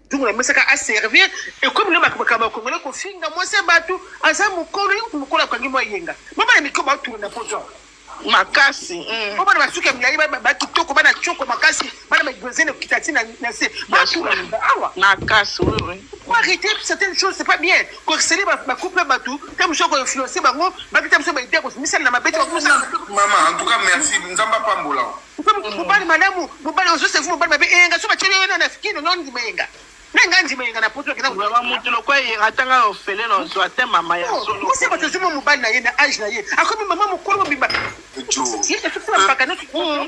ntungu na mesaka aservir ekomi na makambo ya kongole kofinga mwasi ya bato aza mokolo ye kutu mokolo akangi mwa yenga babana mikolo baotuna na poto makasi mm. po bana basuki ya milai bakitoko bana coko makasi bana bagrezene kitati na se batuna awa makasi arrete certaines choses c'est pas bien ko excele ba ba couple batu te muso ko influencer bango ba kita muso ba idée ko misala na mabete ko musa maman en tout cas merci nzamba pambola mobali malamu mobali ozo se mobali mabe enga so ba chele na na fikino non ndima enga na nga ndima enga na poto kina ba mutu lokwa ye atanga ofele na zo ate mama ya oh, solo musa ba tozo mobali na ye na age na ye akomi mama mukolo mobimba jo ye te tukula pakana tukula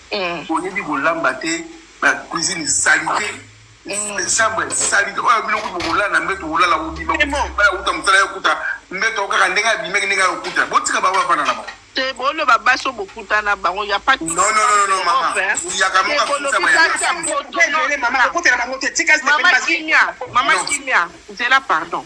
Boyebi kolamba te, ba cuisine salite, chambre salite. Oyo bino kutu bokolala na mbeto, bokolala bobima, bala kuta mosala yo kuta mbeto kaka ndenge abimaki ndenge ayokuta. Botika bango bafanda na bango. Te boloba basi oyo bokutana bango ya pati. Non non non non mama. Uyaka moka kuta ba ya. Mama kimia, mama kimia. Zela pardon.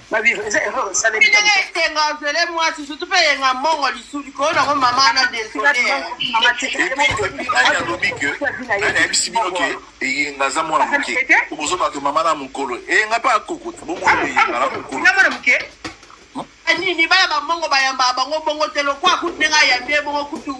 ba vivre eza erreur esalemi ndenge esenga ozele mwasi surtout mpe eyenga mbongo lisusu koyo nango mama wana desolealobi ke anayebisi bino ke eyenga aza mwana moke okozo bato mama na mokolo eyenga mpe akokota bomwana eyenga na mokolo nini bana bambongo bayambaka bango bongo te lokwa kutu ndenge ayambi ye bongo kutu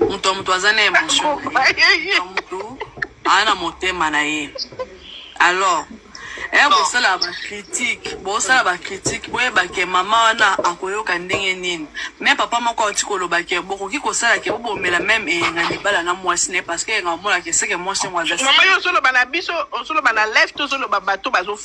moto ya moto aza na emotion moto aza na motema na ye alors eh, bosala bakritike bosala bakritike boyeba ke mama wana akoyoka ndenge nini me papa moko auti koloba ke bokoki kosala ke bobomela meme eyenga libala na mwasi ne parce que eyenga omonake seke mwasi yango azamama yo ozoloba na biso ozoloba na life tozoloba bato bazo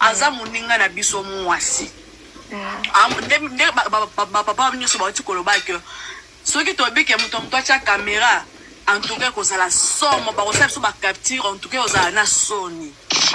aza moninga na biso mwasi nde bapapa nyonso bauti koloba ke soki toyebi ke moto ya moto atya kamera antuka ekozala somo bakosala biso bacapture antuka ekozala na soni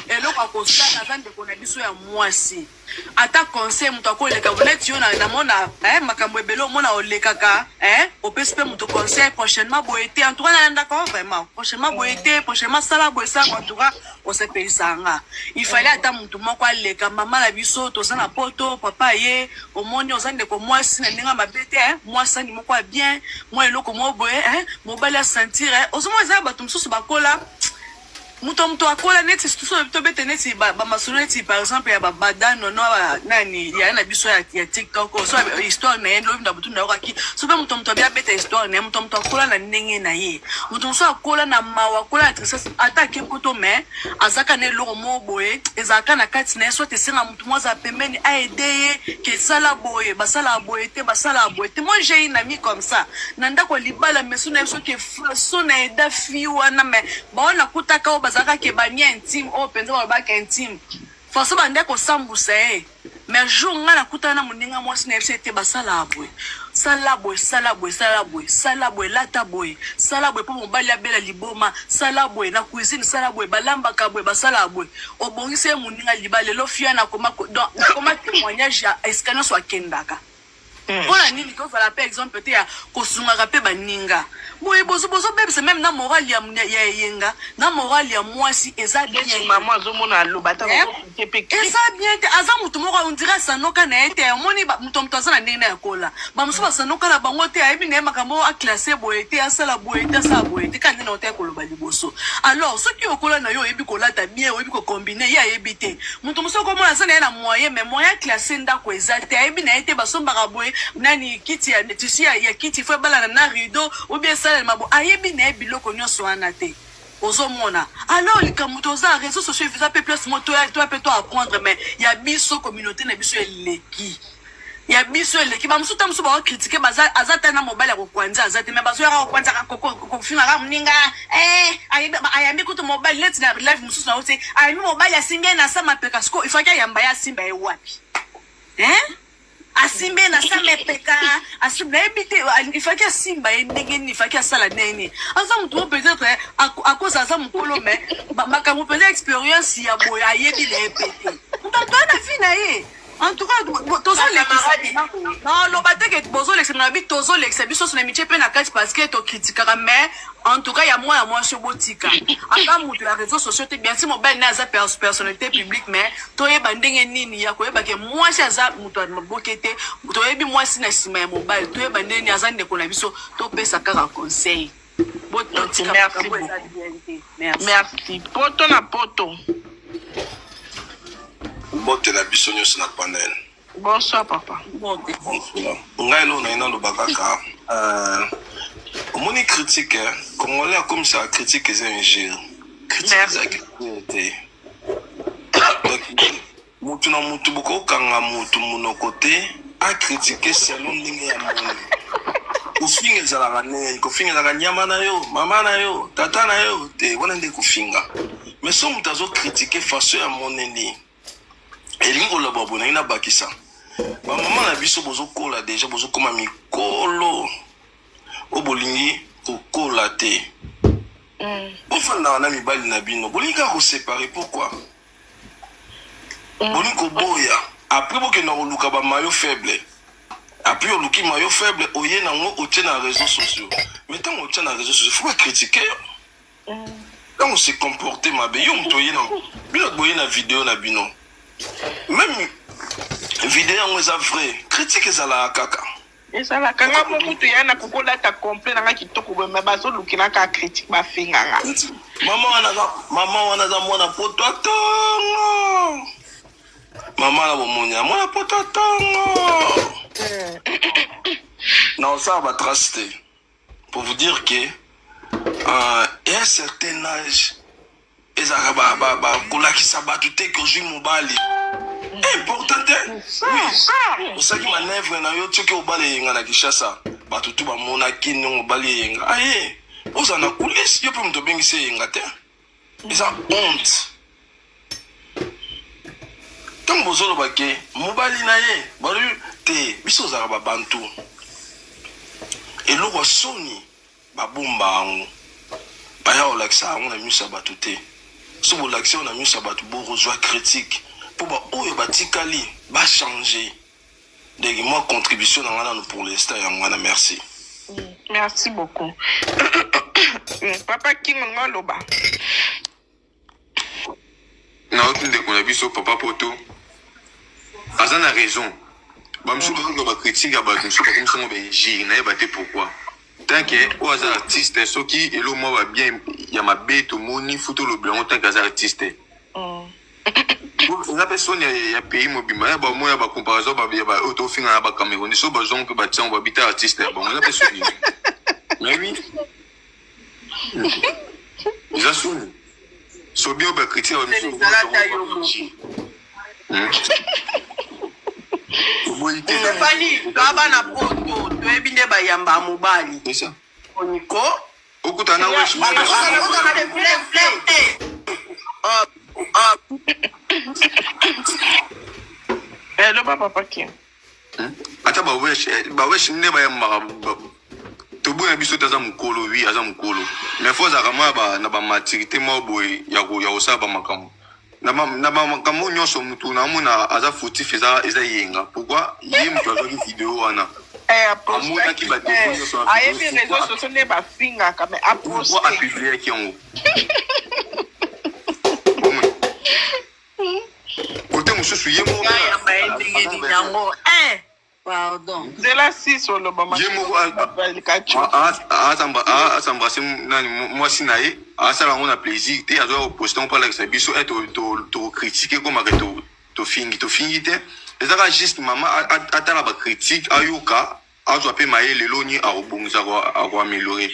eloko akosala aza ndeko na biso ya mwasi ata conseil moto akoleka neti yo namona eh, makambo ebele omona olekaka eh, opesi mpe moto conseil prochainement boye te antuka nalandaka vraiment prochainement boye te prochainement sala boye sala antuka osepelisaka nga ifale ata motu moko aleka mama na biso toza na poto papa ye omoni oza ndeko mwasi na ndenge mabe te eh, mwasi ani moko ya bien mwa eloko moko boye eh, mobali asentire eh. ozomona eza ya bato mosusu bakola moto moto akola neti tobete neti bamasolo neti par exemple ya babadano no nani yaya na biso ya tiktok oh, so histoire na ye lobi na butu nayokaki so mpe moto moto abia abeta histoire na ye moto moto akola na ndenge na ye moto mosusu akola na mawa akola na tristesse ata ake poto mais azaka na eloko moko boye ezalaka na kati na ye soit esenga motu moko azala pembeni aede ye ke sala boye basalaka boye te basalaka boye te moi j'ai une amie comme ça na ndako ya libala meso na ye soki façon na eda fille wana mais baoyo nakutaka oyo bazalaka ke bamia intime oyo mpenza balobaka intime façon bande kosambusa ye Mais jour nga na kutana na moninga mwasi na yebisa te basala boye sala boye sala boye sala boye sala boye lata boye sala boye mpo mobali abela liboma sala boye na cuisine sala boye balambaka boye basala boye obongisi ye moninga liba lelo fiana akoma donc nakoma témoignage ya esika nyonso akendaka Hmm. mpo na nini tozala mpe exemple te ya kosungaka mpe baninga boye bozobebisa meme na morale ya eyenga na morale ya mwasi eza bienmama azomona aloba eh? eza bien te aza motu moko ondira asanoka na ye te omoni moto moto aza na ndenge na yakola bamosusu basanoka na bango te ayebi na ye makambo aklase boye te asala boye te asala boye te kandi na otaki koloba liboso alors soki okola na yo oyebi kolata bien oyebi kokombine ye ayebi te moto mosusu okomona aza na ye na moyen mais moyen classe ndako eza te ayebi na ye te basombaka boye nani kiti ya tisi ya, ya kiti fo ebalana na rideau obie esalalema bo ayebi na ye biloko nyonso wana te ozomona alors likambo toza réseau sociaux eza mpe place mo toya toya mpe to apprendre mais ya biso communauté na biso eleki ya biso eleki bamosusu ta mosusu bao kritike aza ta na mobali ya kokwanza aza te me bazoyaka kokwanzaka kofingaka moninga eh, ayambi kutu mobali leti na live mosusu na yo te ayambi mobali asimbi ye na sa mapeka siko ifaki ayamba ye asimba ye wapi eh? asimbi ye na sa mapeka nayebi te ifaki asimba ye ndenge nini ifaki asala ndenge nini aza motu mo peut-être eh, akosa aza mokolo me makambo mpenza expérience ya boye ayebi na ye pete moto atoya na vi na ye En tout cas, tozolekisa naloba te ke bozolekisa na bi tozolekisa biso sona mitie mpe na kati parce que tokritikaka mais en tout cas ya mwana mwasi obotika ata moto ya réseau sociaux te bien si mobali naye aza personnalité publique mais toyeba ndenge nini ya koyeba ke mwasi aza moto ya maboke te toyebi mwasi na nsima ya mobali toyeba ndenge nini aza ndeko na biso topesa kaka conseil merci poto na poto mbotela biso nyonso na panel bonsoir papa ngai elo naye naloba kaka euh, omoni critique eh? congolais akomisaka critique eza injure critique eza te Mutu na mutu boko kanga mutu munoko te a critiquer selon ndenge ya moni. Kofinga ezalaka ndenge kofinga ezalaka nyama na yo, mama na yo, tata na yo te wana nde kofinga. Mais so mutu azo critiquer façon ya moneli elingi koloba boye nangi nabakisa bamama na biso bozokola deja bozokoma mikolo oyo bolingi kokola te mm. bofandaka na mibali na bino bolingi kaka kosepare pourkui boni koboya apres bokenda koluka ba mayo faible apres oluki mayo faible oye na ngo otie na reseau sociaux mais tango otia na reseau sociaux faut ba critique yo tango mm. se comporte mabe yo moto oye na bino boye na video na bino meme video yango eza vrai critique ezalaka kaka Ezalaka nga mo kutu ya na koko lata complet na nga kitoko boye mais bazo lukela ka critique ba finga nga. Mama wana za mama wana za mwana poto tongo. Mama na bomoni ya mwana poto tongo. Na osala ba trace te. pour vous dire que euh, un certain âge ezalaka bakolakisa ba, ba, bato te kozwi mobali eh, important te oui osalaki manevre na yo soki obali eyenga na kinshasa bato tu bamonaki ndenge obali eyenga aye ozala na kulisi yo mpe moto obengisi eyenga te eza honte ntango bozoloba ke mobali na ye balobi te biso ozalaka babantu eloko ya soni babomba yango baya kolakisa yango na miso ya bato te so bolakisi yango na miso ya bato bokozwa critique mpo baoyo batikali bachange Donc moi contribution na ngana pour l'instant ya ngana merci. Merci beaucoup. papa King nga loba. Na otu ndeko na biso papa Poto. Aza na raison. Ba msu ba loba critique ya ba msu ba comme songo benji na yeba te pourquoi. Tant que o aza artiste soki elo mo ba bien ya mabe to moni futo lobela ngo tant que aza artiste. Mm. eza mpe soni ya pays mobimba ya bamo ya bacomparaison oyo tofinga na bacamerouni so bazongo mpe batiango babita artiste ya bango eza mpe soni nayebi eza soni sobi oyo bakritie ya bamisu fani baba na poto toyebi nde bayamba mobali oniko Okuta na wesh meme Hello papa Paquin. Hmm? Ata ba wesh eh, ba wesh nde ba yamba toboyi na biso te aza mokolo wi aza mokolo mais fo azalaka mwa na bamaturité mwa boye ya kosala bamakambo na makambo nyonso motu naomona aza fautif eza eza yenga pourkui ye motu azwaki video wana eh, amonaki badefo eh, nyonso ayebi réseau sociaux nde bafingaka mais apourkui apubliaki yango kote mosusu ye moko Pardon. Nzela sisi oloba ye moko asambrase nani mwasi na ye asala yango na plaisir te azoya koposte yango mpo alakisa biso e tokritike komaka tofingi tofingi te ezaka juste mama atala bakritike ayoka azwa mpe maye lelo ni akobongisa akoameliore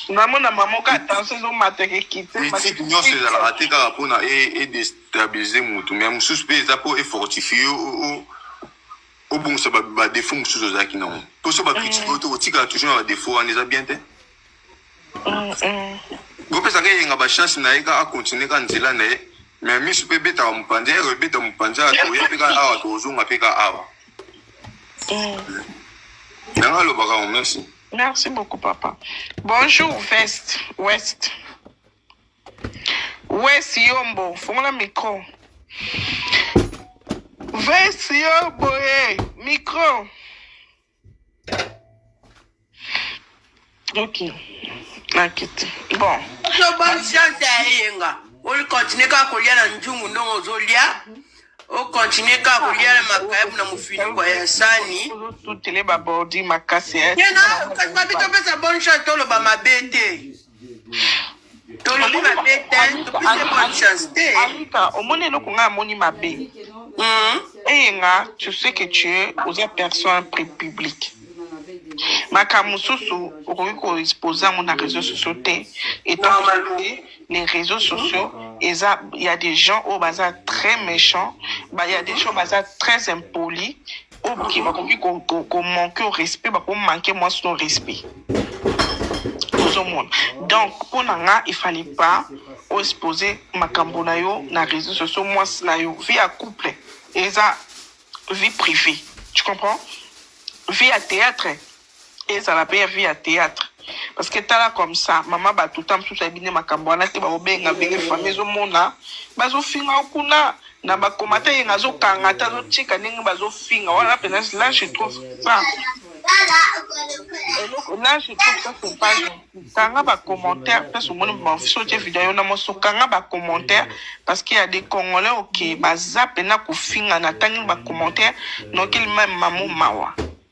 namona mamoka tension ezomata ekekite etike nyonso ezalaka te kaka mpona edestabilize motu mai mosusu mpe eza mpo efortifie obongisa badefaut mosusu ozalaki nango mpo so bakritike mm. oyo te otikala toujours na badefaut wana eza bien te mm, mm. bopesaka eyenga bachance na ye ka akontinue ka nzela na ye mais misu mpe ebetaka mopanzi ero ebeta mopanzi awa toya mpe ka awa tozonga mpe ka awa yango alobaka merci merci beaucoup papa bonjour vest west Wes Yombo, fongola micro. Wes Yombo, eh, micro. Ok. Nakiti. Bon. Yo bonne chance ya eyenga. Oli continuer kaka kolia na njungu ndongo ozolia. O continuer kaka kolia na makayabu na mofiniko ya sani. Tutele ba bordi makasi. Ye na kasi babi topesa bonne chance toloba mabe te. tolobi mabe te topesi bonne chance te alika omoni eloko ngai amoni mabe hmm? eyenga tu sais que tu es oza personne public makambo mosusu okoki koexpose yango na réseau sociaux te etant les réseaux sociaux eza ya des gens oyo baza très méchant ya des gens baza très impoli ok bakoki komanke au respect bakomanke mwasi no respect ozomona donc mpo na nga efali pas oexpose makambo na yo na réseau sociaux mwasi na yo vie ya couple eza vie privée tu comprends vie ya théâtre ezala pe ya vie ya theatre parce que tala comme ça mama batu ta mosusu ayebi nde makambo wana te bakobenga benge famille ezomona bazofinga yo kuna na bakomata yenge azokanga te azotika ndenge bazofinga wana pena la je trouve ça là je trouve ça c'est pas gentil kanga bacommentaire place omoni baofisi otie video yo na moso kanga bacommentaire parce que ya des congolais oke baza pena kofingana atangi bacommentaire nokeli meme mamo mawa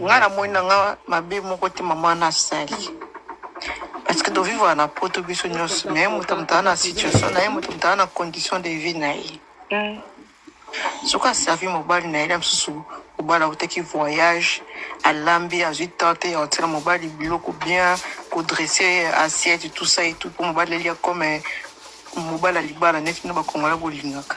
nga na moni na nga mabe moko te mama wana asali parce que tovivaka na poto biso nyonso me moto moto aza na situation na ye moto moto aza na condition de vie na ye mm. soki aservi mobali na ye na mosusu mobali autaki voyage alambi azwi tante ya kotyela mobali biloko bien kodresse assiette tout ça et tout mpo mobali alia comme mobali ya libala neti bino bakongole bolingaka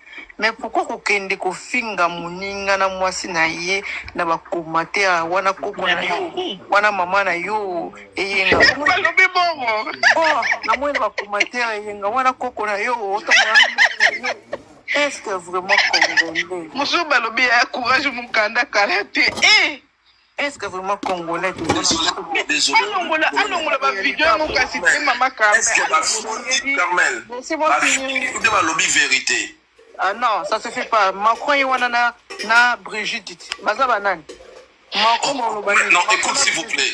Mais pourquoi kokende kofinga moninga na mwasi na ye na bakomate ya wana koko na yo wana mama na yo eyenga balobi bongo oh, namoni na bakomate ya eyenga wana koko na yo otamona est ce que vraiment congolais mosusu balobi ya courage mokanda kala te e eh! Est ce que vraiment congolais alongola alongola ba video yango kasi te mama Carmel. Nde balobi verite. Ah non, ça se fait pas. Macron ye wana na na Brigitte baza banani? Macron boloba. Non, écoute s'il vous plaît.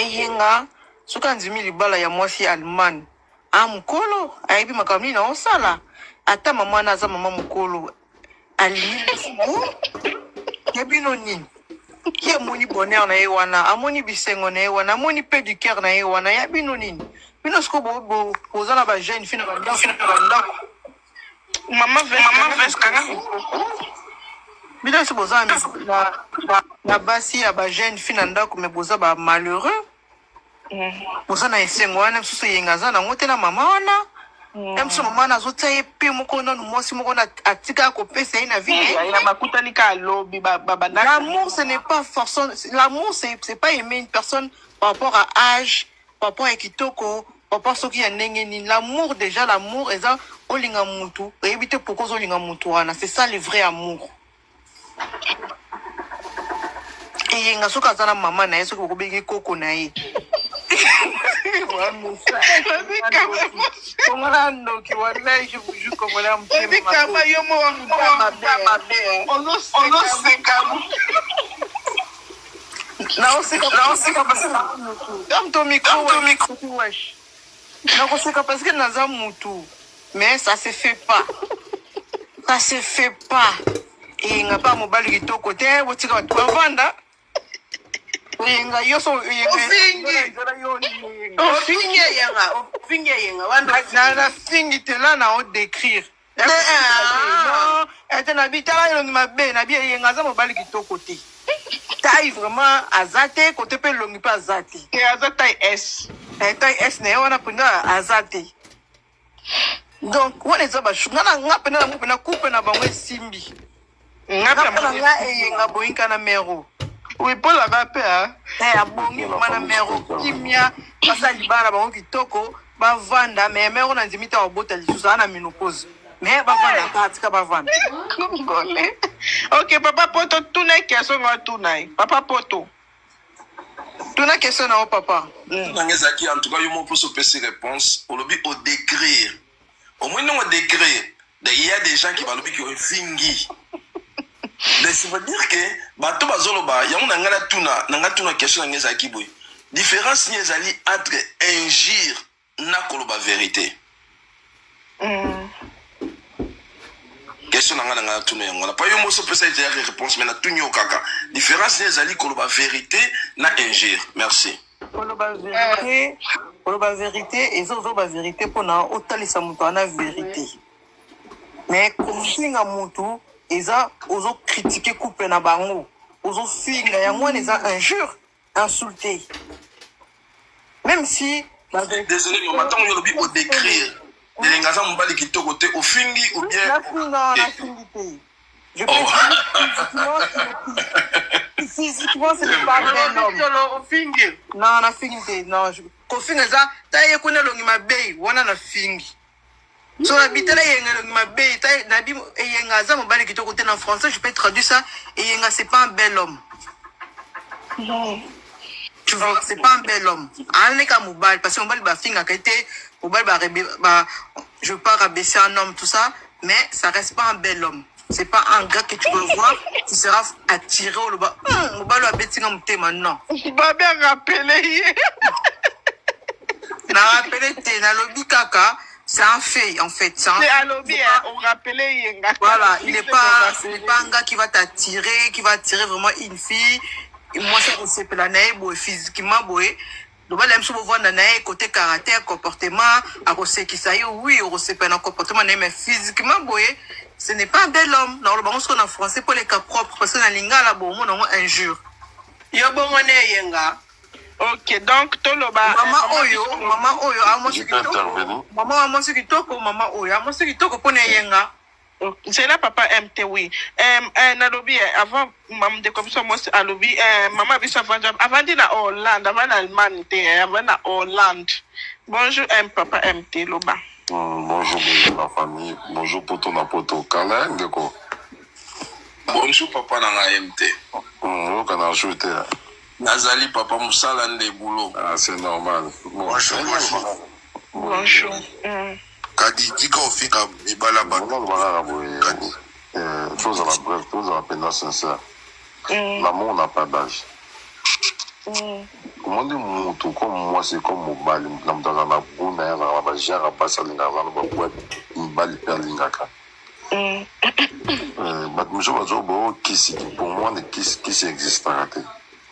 eyenga soki andimi libala ya mwasi ya allemagne a ah, mokolo ayebi makambo nini naosala ata mama na aza mama mokolo alingo ya bino nini ye amoni bonheur na ye wana amoni bisengo na ye wana amoni pe du cœur na ye wana ya bino nini bino sikoyo boza na bajeune fi na bandako bino nyonso boza na basi ya bajeune fille na ndako me boza ba malheureux boza na esengo wana mosusu eyenga aza nango te na mama wana ya mosusu mama wana azotia ye mpe moko nanu mwasi moko na atika kopesa ye na viebakutani ka lobi babanda l'amour ce n'est pas forcément l'amour c'est pas aimer une personne par rapport à âge Papa ya kitoko, papa soki ya ndenge nini. L'amour dejà l'amour eza olinga mutu, oyebi te pourquoi ozolinga mutu wana. C'est ça le vrai amour. Eyenga soki aza na mama na ye soki bokobengi koko na ye. Kongola ndoki wallahi je vous jure kongola mutema. Baby kama yo mo wa mutema mabe. Ozoseka. Naoseka naoseka parce que dame to micro to micro wesh. Nakoseka parce que naza mutu mais ça se fait pas. Ça se fait pas. Et nga pas mobali kitoko te botika bato bavanda. Yenga yo so yenga. Ofingi. Ofingi yenga. Ofingi yenga. Wana na fingi te là na o décrire. ete na bitala elongi mabe na bi eyenga aza mobali kitoko te tai vraiment aza te kote mpe elongi mpe aza te te aza tai s eh, tai s na ye wana mpenza aza te donc wana eza bashu nga na nga mpena na ngo mpena couple na bango esimbi Napona nga eyenga boyinka na mero. Oui, Paul aba pe a. Eh, abongi mama na mero kimia. Basa libala bango kitoko. Bavanda, mais mero na ndimi te abota lisusu ana menopause. Mais bavanda ka tika bavanda. Congolais. Ok, papa Poto, tuna question nga tuna ye. Papa Poto. Tuna question na yo papa. Nanga ezalaki en tout cas yo moko poso pesi réponse, olobi o décrire omoni ndongo degre il y a des gens qui balobi ke ofingi mais ça veut dire que bato bazoloba yango na ngai natuna na ngai tuna question na ngai ezalaki boye différence nini ezali entre injure na koloba verité mm. question na ngai na ngai natuna yango wana pa yo mosi opesa ete yaki réponse mais natuni yo kaka différence nini ezali koloba verité na injure merci koloba verite eh. koloba verite eza ozoba verite mpona otalisa moto wana verite me kofinga motu eza ozokritike couple na bango ozofinga yango wana eza injure insulte même si désolé mama ntango yo olobi odécrire elenga aza mobali kitoko te ofingi ou bien nafinga nafingi te Je oh. physiquement, physiquement, c'est pas vrai. Non, non, na fingi te. Non, je... kofinga eza ta ye kuna elongi mabe wana na fingi so na bitala eyenga elongi mabe ta na bi eyenga aza mobali kitoko te na français je peux traduire ça eyenga c'est pas un bel homme non. tu vois c'est pas un bel homme aleka mobali parce que mobali bafingaka ete mobali ba, ba je veux pas rabaisser un homme tout ça mais ça reste pas un bel homme c'est pas un gars que tu vas voir tu seras attiré oloba hum, mobali abeti nga motema non babe arapele ye na rapele te nalobi kaka c'est un fait en fait ça Mais alobi hein, on rappelait yenga voilà il est pas ce n'est pas un gars qui va t'attirer qui va attirer vraiment une fille moi ça on sepela na ye boye physiquement boye loba la biso bovanda na ye kote caractère comportement akosekisa yo oui okosepela na comportement na ye mais physiquement boye ce n'est pas un bel homme na oloba ngo soko na français mpo leka propre parce que na lingala bomona ngo injure yo bongo ne eyenga ok donc toloba mama oyo mama oyo amwasi kitoko mama amwasi kitoko mama oyo amwasi kitoko mpo na eyenga nzela papa m te wi eh, eh, nalobi eh, avant ndeko biso mwasi alobi eh, mama biso avandi avandi na hollande avandi na allemagne te eh, avandi na hollande bonjour m papa m te loba mm, bonjour bonjour la famille bonjour poto na poto kala ndeko bonjour papa na ngai m te mm, oyoka na jour te eh. nazali papa mosala nde boulot ah, c'est normal bonjour bonjour, bonjour. bonjour. Mm. Kadi tika ofinga mibala ba. Mwana loba kaka boye. Kadi. Eh, tozala bref, tozala mpenza sincère. Mm. L'amour n'a pas d'âge. Mm. omoni motu comme mwasi comme mobali na moto azala na go na ye azala na bagenre basi alingaka azala na baboite mibali mpe alingaka mm. eh, bato mosusu bazobo oh, kisi pour moi ne kisi kisi existaka te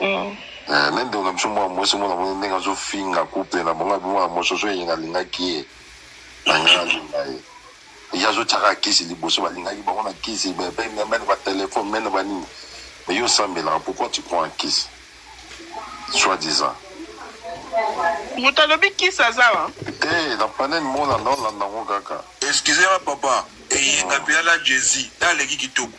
Eh, na ndeko na biso mwana mwasi mwana mwana ndenge azofinga kuple na bango abimwana mososo eyenga alingaki ye na ngai alinga ye ye azotyaka kisi liboso balingaki bango na kisi mene batelefone mene banini mais yo osambelaka pourquoi tu prends un kisi soit disant moto alobi kisi aza wa te eh, na panene molanda olanda yango kaka excusema papa eyenga mpe ala jesi aleki kitoko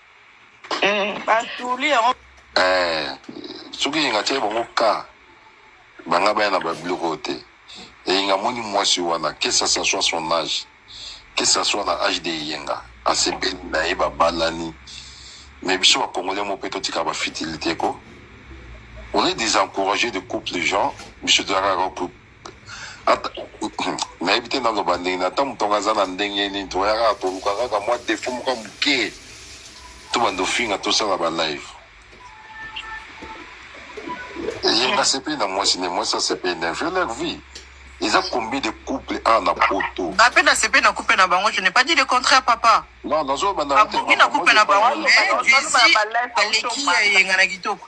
Eh, basuli yango eh, soki eyenga atyaki bango ka banga baya na babiloko oyo te eyenga amoni mwasi wana que ça ça soit son âge que ça soit na âge de eyenga asepeli na ye babalani mais biso bacongolais mo mpe totika bafitilité ko on est des encouragé de couple gens biso toyaka nayebi te naloba ndenge na ata motongo aza na ndenge nini toya kaka toluka kaka mwa defo moko ya moke tobanda ofinga tosala balive ye nasepeli na mwasi ne mwasi asepeli na vie leur vie eza combien de couple a na poto nga mpe nasepeli na couple na bango je n'ai pas dit le contraire papa non nazobanda akoki na couple na bango mais vizi aleki ya eyenga na kitoko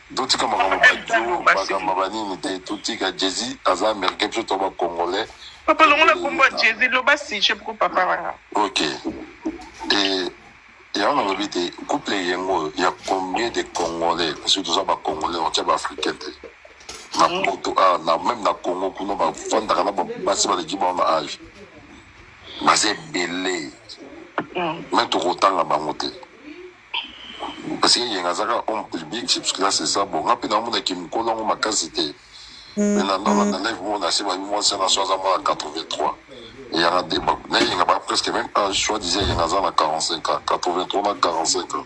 totika makambo badio bagamba banini te totika jesi aza américain biso to bacongolais papa longola kombo ya jesi loba sije poko papa wana ok e yango nalobi te couple yango oyo ya combien de congolais parce que toza bacongolais otya baafricain te na mm. poto awa ah, na meme na congo kuna bafandaka na basi baleki bango na age baza ebele me mm. tokotanga bango te Parce que yenga aza kaka homme public, c'est parce que là c'est ça. Bon, nga pe na mona ki mukolo yango makasi te. Mais na ndanga na live mona se ba mwa sana so aza mwa 83. Et ya na débat. Na yenga ba presque même âge, soit disait yenga aza na 45 ans, 83 na 45 ans.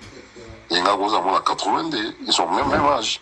Yenga ko za mwa 82, ils sont même même âge.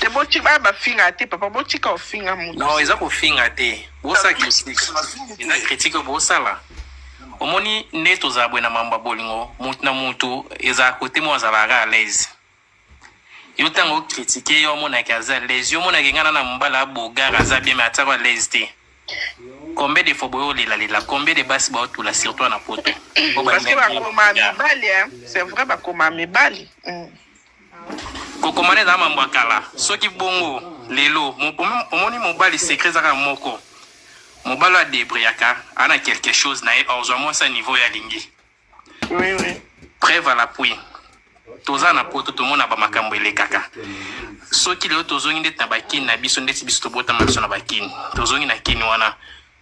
te botika ah, bafinga te papa botika ofinga moto non eza kofinga te bosa critique eza critique bosala omoni nde tozala boye na mambo ya bolingo motu na motu ezala kote moko azalaka à l'aise yo ntango okritike yo omonaki aza à l'aise yo omonaki ngai na na mobala abogara aza bien me atiako à l'aise te Combien de fois boyo lela lela, combien de basi bao tula surtout na poto. Parce que ba koma mibali hein, c'est vrai ba koma mibali. Mm. Kokomana eza mambo ya kala. Soki bongo lelo omoni mobali secret ezaka moko. Mobali adebriyaka ana quelque chose na ye ozwa mwasi ya niveau ya lingi. Oui, oui. Preuve à l'appui. toza na poto tomona bamakambo elekaka soki lelo tozongi ndeti na bakini na biso ndeti biso tobotama biso na bakini tozongi na kini wana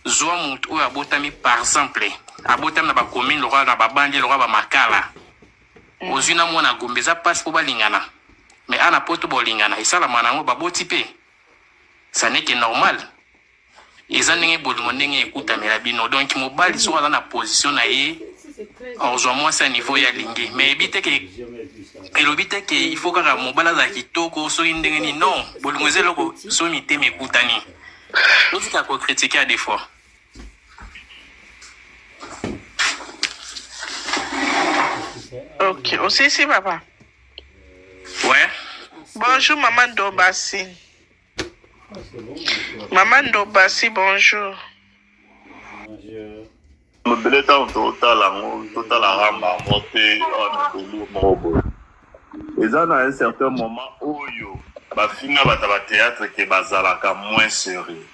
zwa motu oyo abotami par exemple abotami na bakomine lokola na babandi lokola bamakala mm. ozwi na mwana gombe eza mpasi mpo balingana mais ana poto bolingana esalama na yango baboti mpe saneke normal eza ndenge bolingo ndenge ekutamela bino donc mobali soki aza na position na ye ozwa mwasi ya niveau ye alingi mais eyebi te ke elobi te ke il faut kaka mobali azala kitoko soki ndenge nini non bolingo eza eloko soki mitema ekutani otika kokritike ya defois ok osisi papa ouais bonjour maman dobasi Maman Ndobasi, bonjour. Lobele ntango totala yango totala ramba yango te ebeli moko boye eza na un certain moment oyo bafinga bato ya bateatre ke bazalaka moins serieux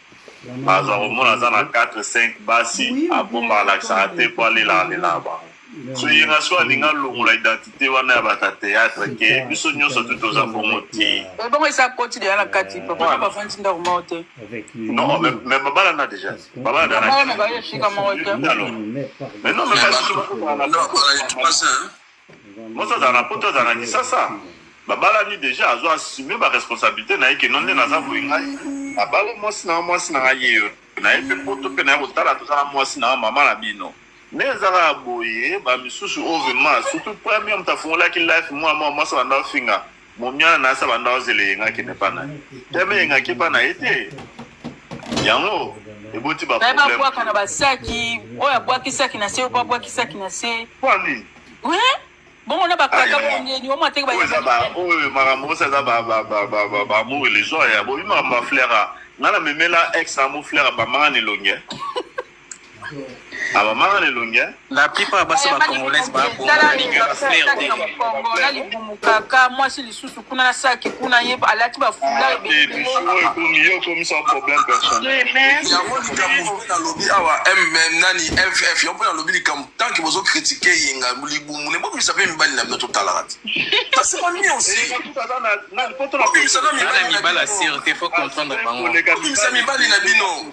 baza komona aza na 4 5 basi abomba alakisaka te mpo alelaka lelaka bango so ye na so alingi alongola identité wana ya bata théâtre ke biso nyonso tu toza bongo te bongo esi akoti deya na kati papa bafandi ndako moko te non mais babalana déjà babalana baye esika moko te mais non mais mosi azala na poto azala na kisasa babalani déjà azo assume baresponsabilité na ye ke no nde naza boye ngai abali mwasi na mwasi na ngai yeyo naye mpe poto mpe naye kotala toza na mwasi na mama na bino nde ezaka boye ba misusu oyo vraiment surtout premier moto afungolaki life mwa mwa mwasi abanda ofinga momiana na asi abanda ozela eyengaki ne pana ye teme eyengaki pana ye te yango eboti babwaka na basaki oyo abwakisaki na se oyo babwakisaki na se kwani bongo na bakaka bongeni omo ateki baoyo makambo osa eza bamour illusion ya bobi makambo ya flera ngai na memela ex amo flera bamanga na elongi abamaka na elongi eh? la plupart ya basi bacongolaise babongana libumu kaka mwasi lisusu kuna na saki kuna ye alati bafula nalobi awa mm nani ff yo mpo nalobi likambo tanke bozo kritike yenga libumu ne bobimisa mpe mibali na bino totalaka te basema miosibobimisa mibali na bino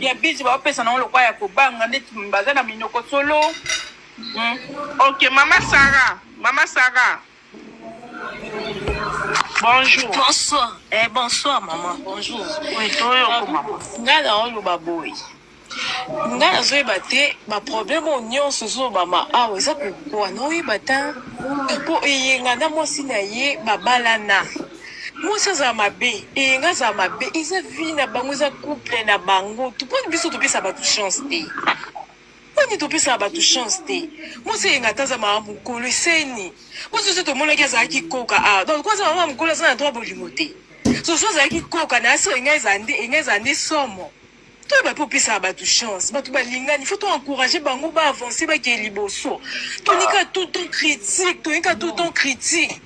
ya bizi baopesa nango lokwa ya kobanga nde baza na minoko solo hmm. ok mama sara mama sara bonjour bonsoir eh, bonsoir mama bonjour oui, toyoko mama ngai naoloba boye nga nazoyeba te baproblème oyo nyonso ozolobama awa eza kokwana oyeba ta mpo eyenga na mwasi na ye babalana mwasi azala mabe eyenga azala mabe eza vie na bango eza couple na bango tuponi biso topesa bato chance te poni topesaka bato chance te mwasi eyenga ata aza mama mokolo eseni mwasi oso tomonaki azalaki koka a ah, donc aza mama mokolo aza na droit bolingo te soso azalaki koka na asi enga eza nde enga eza nde somo toyeba mpe opesaka bato chance bato balingani fo to encourage bango ba avance bakee liboso tonika tout temps critique tonika tout temps critique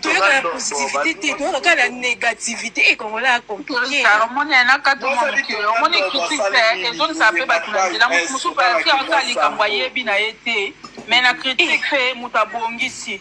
toyoka na positivité te toyoka kaka na négativité ekongola compliqueomoni critique te ezongisaka mpe bato na nzela moto mosusu mpe asala likambo ayebi na ye te mais na critique mpe moto abongisi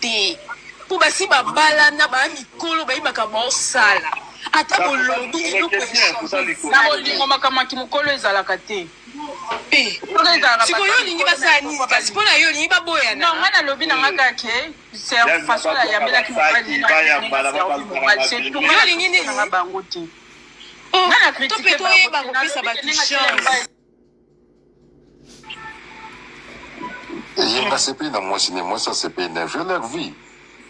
te po basi babalana baa mikolo bayebaka baosala ata bolobi eloko na bolingo makambo ya kimokolo ezalaka te sikoyo olingi basala nini kasi mpo na yo olingi baboyana nga nalobi na nga kaka ke façon nayambelaki mobaliolingi nini bango te nga na kritike bango ye nasepeli na mwasi ne mwasi asepeli na vie leur vie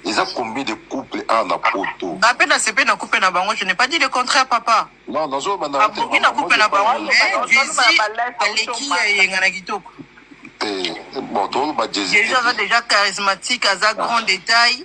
eza combien de couple awa na poto nga mpe nasepeli na couple na bango je n'ai pas dit le contraire papa non nazoloba na abongi na couple na bango mais jesi aleki ya eyenga na kitoko te bon toloba jesi aza déjà charismatique aza grand détail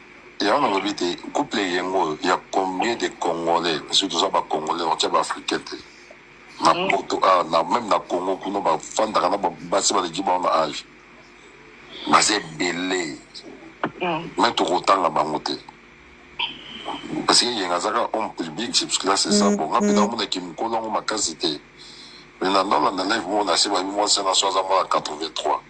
Yango nalobi te couple yengo ya combien de congolais parce que toza ba congolais otia ba africain te na mm. poto ah, na même na congo kuna bafandaka na basi baleki bango na age baza ebele mm. mais tokotanga bango te parce que yenga azaka homme public c'est parce que là c'est ça mm, bon ngape namona kimikolo yango makasi te mais na ndala na live mona se babi mwasi na so aza mwana 83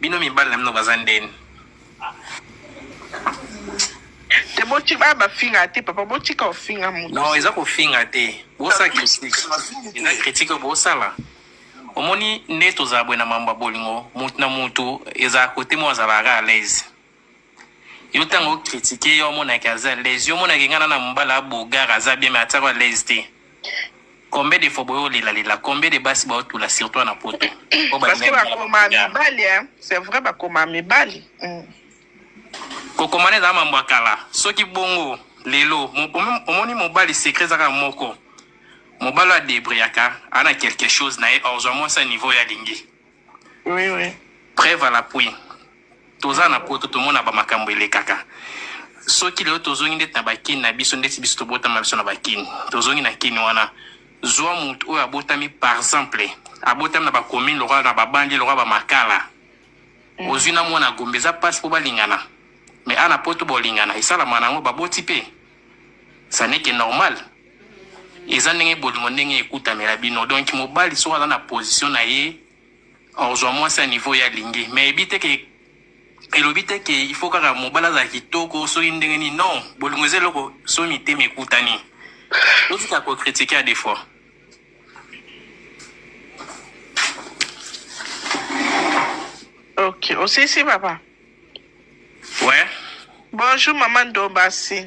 Bino mibali na bino baza ndeni. te boti ba bafinga te papa botika ofinga moto non eza kofinga te bosa critique eza critique bosala omoni nde tozala boye na mambo ya bolingo motu na motu ezala kote moko azalaka à l'aise yo ntango okritike yo omonaki aza lese yo omonaki ngai na mobala ya bogar aza bien mai atiaka lese te combien de fois boyo olelalela combien de basi baotula surtout na poto parce que bakoma mibali c'est vrai bakoma mibali mm. kokomana ezala mambo ya kala soki bongo lelo omoni mobali secret ezaka moko mobali adebriyaka ana quelque chose na ye orzwa mwasi ya niveau ya lingi Oui, oui. Preuve à l'appui. Toza na poto tomona ba makambo elekaka. Soki lelo tozongi ndeti na bakini na biso ndeti biso tobotama biso na bakini. Tozongi na kini wana. Zwa mutu oyo abotami par exemple abotami na bakomine lokola na babandi lokola bamakala mm. ozwi na mwana gombe eza mpasi mpo balingana me ana poto bolingana esalama na yango baboti mpe saneke normal eza ndenge bolingo ndenge ekutamela bino donc mobali soki aza na position na ye ozwa mwasi ya niveau ya lingi mais ebi te ke elobi te ke il faut kaka mobali azala kitoko soki ndenge nini non bolingo eza eloko soki mitema ekutani otika kokritike ya defaut ok osisi papa ouais bonjour mama ndombasi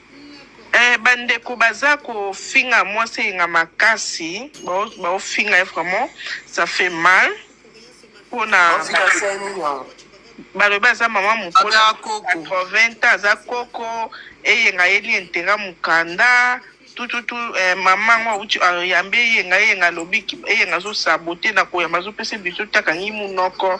Eh, bandeko baza kofinga mwasi eyenga makasi baofinga ye vraiment ça fait mal mpona balobi aza mama mokola 80 ans aza koko eyenga yeli intera mokanda tututu eh, mama yango auti ayambi eyenga eyenga alobi eyenga azosabote na koyamba azopesa biso takangi monoko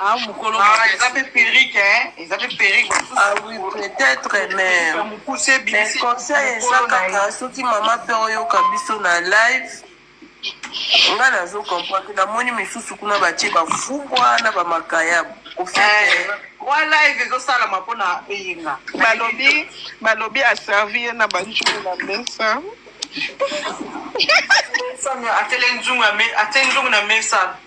Ah, mukolo ah, eza mpe perike hein. eza mpe perike ah oui peut-être mais mais conseil eza kaka soki mama mpe oyoka biso na live nga nazo comprendre namoni misusu kuna batie bafubwa na bamakayabu wa eh, live ezosalama mpona eyenga balobi balobi aservi ye na banjulu na mesa atele nzungu na mesa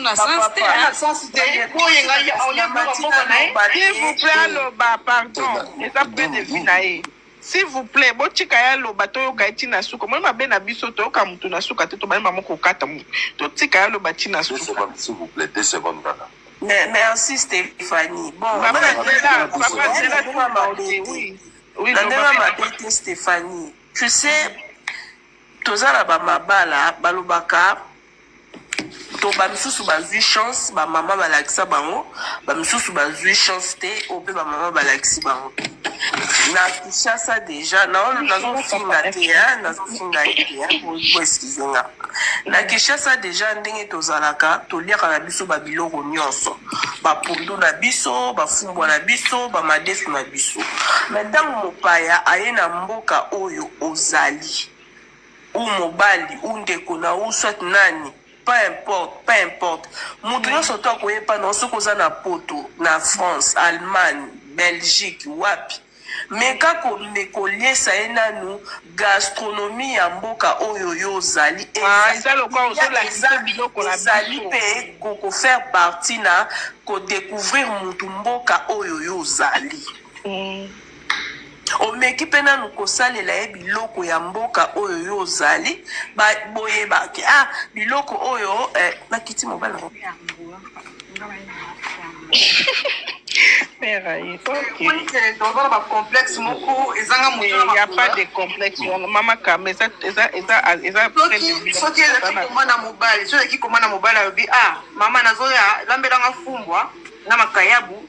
na sens te hein. S'il vous plaît aloba pardon eza point de vue na ye s'il vous plaît botika ye aloba toyoka ye ntina suka omoni mabe na biso toyoka motu na suka te tobandi mamo kokata motu totika ye aloba ntina suka merci stéphanie bon na ndenge mabe te stéphanie tu sais toza na bamabala balobaka to bamisusu bazwi chance bamama balakisa bango bamisusu bazwi chance te oyo mpe bamama balakisi bango na kinshasa deja nazofinga te nazofinga te boeskize nga na kinshasa deja ndenge tozalaka toliaka na biso babiloko nyonso bapundu na biso bafumbwa na biso bamadesu na biso me ntango mopaya aye na mboka oyo ozali ou mobali ou ndeko na ou soit nani peu importe peu importe moto nyonso to akoye epai na yo soki oza na poto na france allemagne belgique wapi meka kome koliesa ye nanu gastronomie ya mboka oyo yo ozali Ah, eza lokola ozolakisa yo biloko na ezali biso. mpe kokofaire partie na kodécouvrir motu mboka oyo yo ozali Mm. omeki mpe nanu kosalela ye biloko ya mboka oyo yo ozali boyebaki ah biloko oyo eh, nakiti mobali ozana bacomplexe moko ezanga moya pas de complexe wana mama kama ezasoki ezaki koma na mobali soki ezaki koma na mobali alobi ah mama nazoya lambelanga fumbwa na makayabu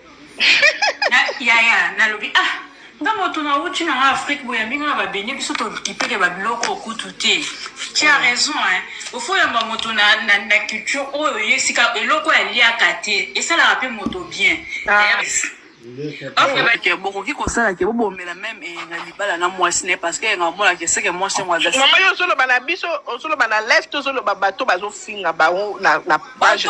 yaya nalobi ah nga moto nauti na nga afrique boye yambi nga na babene biso tokipeke babiloko okutu te tu as raison hein ofo yamba moto na, na, na culture oyo ye esika eloko aliaka te esalaka mpe moto bien ah. bokoki kosala ke bobomela meme eh, na libala na mwasi ne parce que yenga omonaka eseke mwasi yango aza mama yo ozoloba na biso ozoloba na lest ozoloba bato bazofinga bango na page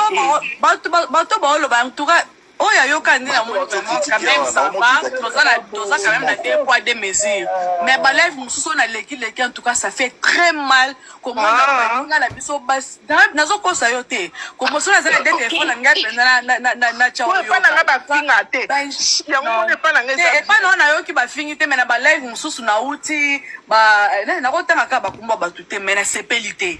bato baoloba en tout cas Oyo ayoka nde na moni vraiment quand même ça va toza na toza quand même na deux poids deux mesures mais ba live mususu na leki leki en tout cas ça fait très mal comment na ah. baninga na biso bas nazo kosa yo te comment sona za na deux téléphone na ngai penza na na na na chawo yo pas na ba finga te ya ngo ne pas na ngai te pas na na yo ki ba fingi te mais na ba live mususu na uti ba na ko tanga ka ba kumba ba tout te mais na sepelite